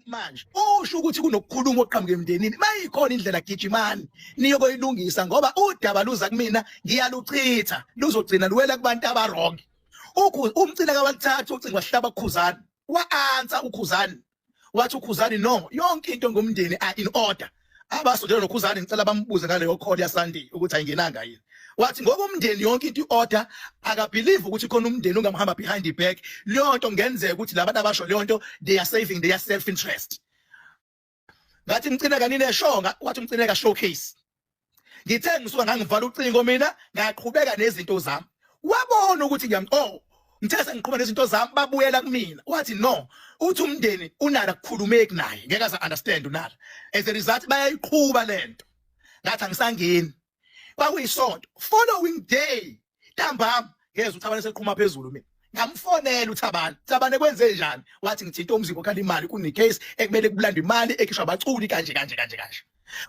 manje usho ukuthi kunokukhuluma oqhamuke emndenini mayikhona indlela gijimani niyokoyilungisa ngoba udaba luza kumina ngiyaluchitha luzogcina luwela kubantu abarongi umcila kawalithatha ucingo wahlaba kukhuzani wa-ansa ukhuzani wathi ukhuzani no yonke into ngomndeni are in order abasondela nokhuzani ngicela bambuze ngaleyo call yasandi ukuthi ayingenanga yini wathi ngoba umndeni yonke into iorder akabelieve ukuthi khona umndeni ungamhamba behind the back leyo nto ngenzeka ukuthi labantu abasho leyo nto they are saving their self interest ngathi mcineka nine shonga wathi mcineka showcase ngithe ngisuka ngangivala ucingo mina ngaqhubeka nezinto zami wabona ukuthi ngiyam oh ngithe sengiqhubeka nezinto zami babuyela kumina wathi no uthi umndeni unala kukhulumeki naye ngeke aza understand unala as a result bayayiqhuba lento ngathi angisangeni kwakuyisonto following day ntambama ngezwe uthabane seqhuma phezulu mina ngamfonela uthabane thabane kwenze njani wathi ngithinta umzimba okhala imali kunecase ekumele kubulanda imali ekhishwa abaculi kanje kanje kanje kanje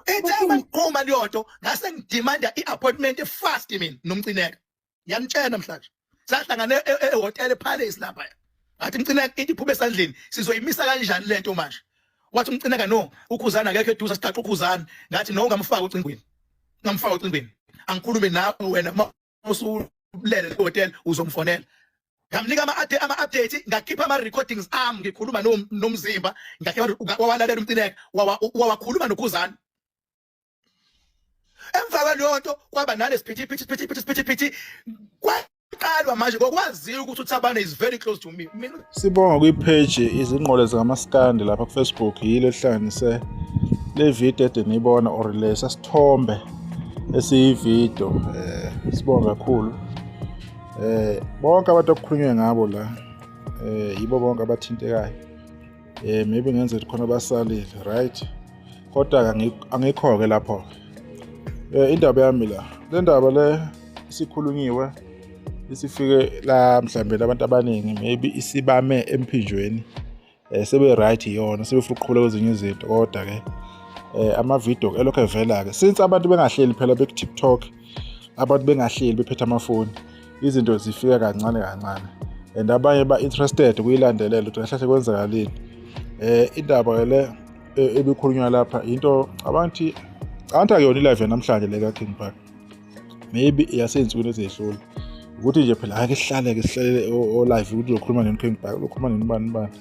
ethaba ngiqhuma leyonto ngase ngidimanda i-appointment fast mina nomcineka ngiyamtshela namhlanje sahlangane e-, e-, ehotel epalace lapha athi mcineka into iphume esandleni sizoyimisa kanjani lento manje wathi umcineka no ukhuzana akekho eduza siqaqa ukhuzana ngathi no ngamfaka ocingweni ngamfaka ocingweni angikhulume nawe wena uma usulele hotel uzomfonela ngamnika ama ama update ngakhipha ama recordings am ngikhuluma nomzimba ngakhipha wawalalela umcineka wawakhuluma nokhuzana emva kwaleyo nto kwaba nalesiphithiphithi siphithiphithi siphithiphithi kwaqalwa manje ngokwaziyo ukuthi uthabane is very close to me mina sibonga kwipheji izingqole zikamaskandi lapha kufacebook yilo ehlanganise le video ede niyibona or lesa sithombe esiyividio um eh, sibonga kakhulu um bonke abantu okukhulunywe ngabo la um yibo bonke abathintekayo eh maybe ngenze ukuthi khona basalile right kodwa angikho-ke lapho eh indaba yami la le ndaba le isikhulunyiwe isifike la mhlambe labantu abaningi maybe isibame emphinjweni eh sebe right yona sebefuna ukuqhubula kwezinye izinto kodwa ke eh ama video elokhu evela ke since abantu bengahleli phela beku TikTok abantu bengahleli bephethe amafoni izinto zifika kancane kancane and abanye ba-interested kuyilandelela ukuthi kahlahle kwenzakalini um indaba ke le e, ebikhulunywa lapha yinto abantu anti akuyona ilive namhlanje le ka-king park maybe iyasezinsukwini ezedlula ukuthi nje phela ake sihlaleke sihlalele olive ukuthi uzokhuluma nini king park uzokhuluma nini ubani ubani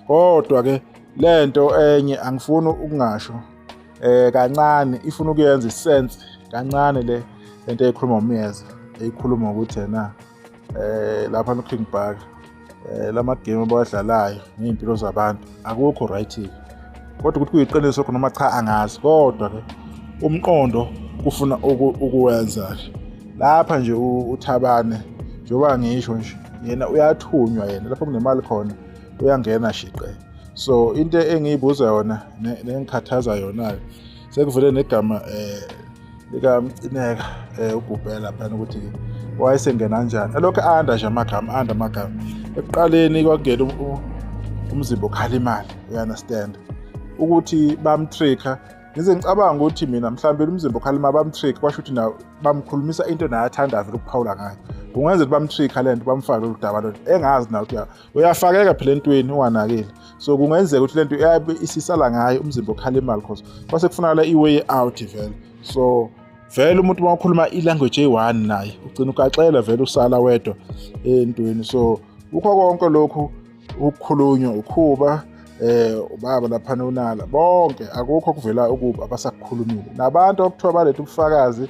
kodwa-ke le nto enye angifuni ukungasho eh kancane ifuna ukuyenza isense kancane le lento eyikhuluma umyeza eyikhuluma ukuthi yena eh lapha no King Park eh lama game abawadlalayo nezimpilo zabantu akukho right kodwa ukuthi kuyiqiniso khona noma cha angazi kodwa ke umqondo kufuna ukuwenza lapha nje uthabane njengoba ngisho nje yena uyathunywa yena lapho kunemali khona uyangena shiqe so into engiyibuza yona nengikhathaza yona-ke sekuvele negama eh likamcineka eh ugubhela phana ukuthi wayesengena kanjani elokhu anda nje amagama anda amagama ekuqaleni kwakungena um, um, umzimba okhala imali you understand ukuthi bamtricka ngize ngicabanga ukuthi mina mhlawumbe umzimba okhala imali bamtricka kwasho ukuthi nawo bamkhulumisa into naye athandayo vele ukuphawula ngayo kungenzeka ukuthi bamtricka le nto bamfake lolu daba lolu engazi nawo ukuthi uyafakeka phela entweni unganakile so kungenzeka ukuthi lento iyabe isisala ngayo umzimba okhala imali cause kwase kufunakala i-way out vele so vele umuntu uma ukhuluma i-language eyi-one naye ugcina ugaxela vele usala wedwa entweni so kukho konke lokhu ukukhulunywa ukhuba eh ubaba lapha nonala bonke akukho kuvela ukuba abasakukhulumile nabantu okuthiwa baletha ubufakazi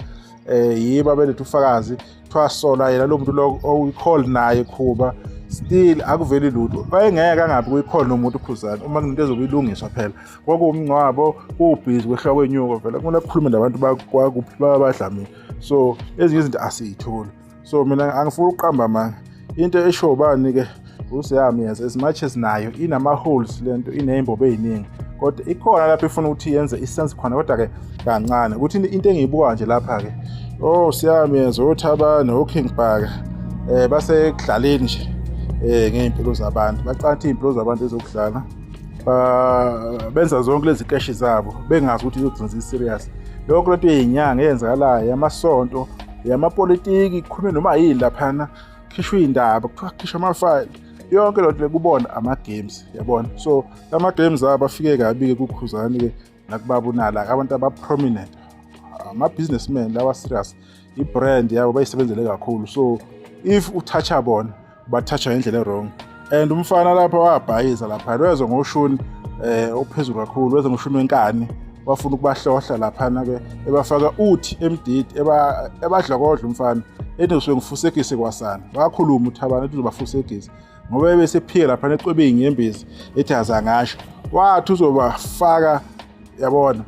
eh yiba beletha ubufakazi kuthiwa sola yena lo muntu lo oyi-call naye khuba still akuveli lutho wayengeke angabi kuyikhona nomuntu ukhuzana uma kunento ezobe ilungiswa phela kwakuwumngcwabo kuwubhizi kwehlwa kwenyuko vele kumele kukhulume nabantu bakuphi babadlamile so ezinye izinto asiyitholi so mina angifuni ukuqamba manga into esho ubani ke usiyami yes as much as nayo inama holes lento inezimbobo eziningi kodwa ikhona lapho ifuna ukuthi yenze isense khona kodwa ke kancane ukuthi into engiyibuka nje lapha ke oh siyami yes othabane oking bhaka eh basekudlaleni nje eh ngeimpilo zabantu baqatha izimpilo zabantu ezokudlala ba benza zonke lezi keshi zabo bengazi ukuthi izogcina serious lokho lento yezinyanga eyenzakalayo amasonto yamapolitiki kukhulume noma yini laphana khishwa iy'ndaba kuthiwa khishwa amafayile yonke loo nto le kubona ama-games yabona so ama-games abo afike kabi-ke kukhuzani-ke nakubaba unala abantu aba-prominent ama-businessman lawa serious i-brand yabo bayisebenzele kakhulu so if uthatha bona bathatha ngendlela ewrong and umfana lapha wabhayiza lapha weze ngoshuni eh ophezulu kakhulu weze ngoshuni wenkani wafuna ukubahlohla laphana ke ebafaka uthi emdidi eba ebadlokodla umfana ethi usuke ngifusekise kwasana wakhuluma uthabana ethi uzobafusekisa ngoba ebesephike lapha neqwebini ngembezi ethi azangasho wathi uzobafaka yabona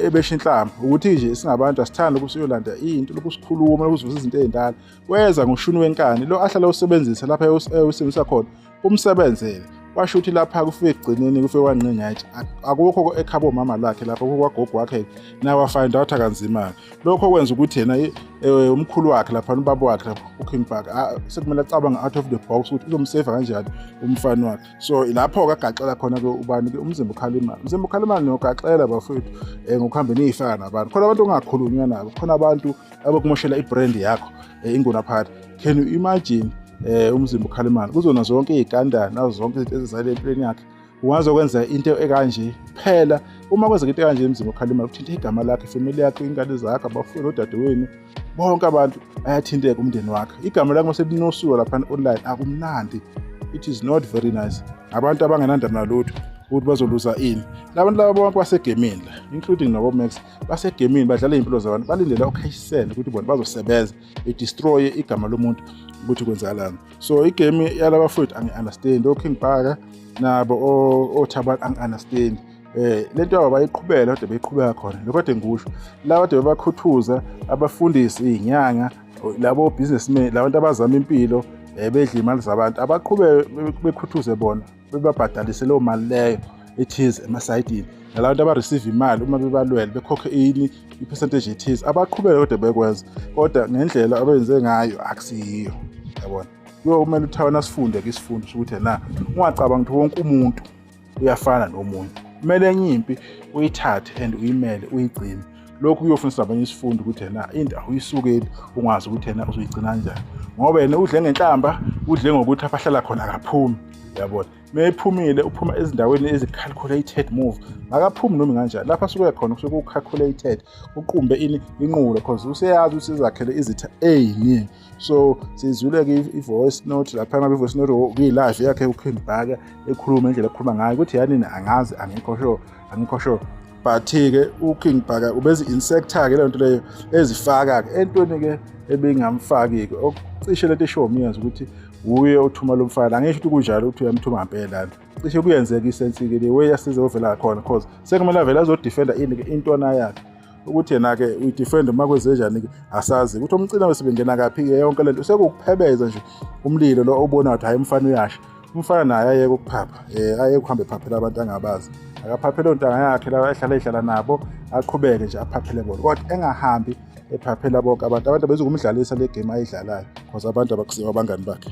ebesha inhlamba ukuthi nje singabantu asithanda ukusiyolanda into lokusikhuluma lokuzivuza izinto ezindala weza ngoshuni wenkani lo ahlala usebenzisa lapha ewusebenzisa khona umsebenzele washo ukuthi lapha kufike ekugcineni kufike wanqinga yathi akukho ekhaba omama lakhe lapha kukho kwagogo wakhe naye wafind out akanzima-ke lokho okwenza ukuthi yena eh, umkhulu wakhe lapha ubaba wakhe lapha uking park sekumele acabange out of the box ukuthi uzomseva kanjani umfana wakhe so lapho-ke agaxela khona-ke ubani-ke umzimba ukhala imali umzimba ukhala imali niyogaxela bafowethu um eh, ngokuhambe niyifaka nabantu khona abantu ongakhulunywa nabo khona abantu abakumoshela ibrand yakho eh, ingona phakathi can you imagine eh umzimba ukhala imali kuzona zonke izikandana nazo zonke izinto ezizale empilweni yakhe ungaze kwenza into ekanje phela uma kwenzeka into ekanje emzimba ukhala imali uthinta igama lakhe family yakhe ingane zakhe abafuni odadewenu bonke abantu ayathinteka umndeni wakhe igama lakhe mase linosuka lapha online akumnandi it is not very nice abantu abangenandaba nalutho ukuthi bazoluza ini labantu laba bonke basegemini la including nabo max basegemini badlala iy'mpilo zabantu balindela ukhashisele ukuthi bona bazosebenza bedestroye igama lomuntu ukuthi kwenzakalani so igame yalaba fowethu angi-understand oking bhaka nabo othabani angi-understand eh lento yabo bayiqhubela kodwa beyiqhubeka khona lokho kade ngikusho la kade bebakhuthuza abafundisi izinyanga labo businessmen labantu abazama impilo eh bedla imali zabantu abaqhube bekhuthuze bona bebabhadalise leyo mali leyo ethize emasayidini nalabantu abareceive imali uma bebalwele bekhokhe ini i-percentage ethize abaqhubeke kodwa bekwenza kodwa ngendlela abenze ngayo akusiyiyo yabona kuyomele uthawe nasifunde ke sifunde ukuthi na ungacabanga ukuthi wonke umuntu uyafana nomunye kumele enye impi uyithathe and uyimele uyigcine lokhu kuyofunisa abanye isifundo ukuthi yena into awuyisukeli ungazi ukuthi yena uzoyigcina kanjani ngoba yena udle ngenhlamba udle ngokuthi abahlala khona akaphumi yabona meyiphumile uphuma ezindaweni ezi-calculated move makaphumi noma kanjani lapha suke khona kusuke ku-calculated uqumbe ini inqulo because useyazi ukuthi izakhele izitha ey'ningi so sizwile-ke i-voice note lapha ngabe i-voice note kuyi-live yakhe uking bhaka ekhuluma indlela ekhuluma ngayo ukuthi yanini angazi angikho sure angikho sure but-ke uking bhaka ubezi-insector-ke leyo nto leyo ezifaka-ke entweni-ke ebingamfaki-ke okucishe lento eshiwo myeza ukuthi wuye othuma lo mfana angisho ukuthi kunjalo ukuthi uyamthuma ngempela nto cishe kuyenzeka isensi-ke le way asize ovela khona cause sekumele avele azodefenda ini-ke intwana yakhe ukuthi yena-ke uyidefend uma kwenzenjani-ke asazi ukuthi umcina wesibengena kaphi-ke yonke le nto sekuwukuphebeza nje umlilo lo obona ukuthi hhayi umfana uyasha umfana naye ayeke ukuphapha um eh, ayeke ukuhambe ephaphela abantu angabazi akaphaphele ontanga yakhe la ehlala ehlala nabo aqhubeke nje aphaphele bona kodwa engahambi ephaphela bonke abantu abantu abezokumdlalisa le game ayidlalayo because abantu abakusiwa abangani bakhe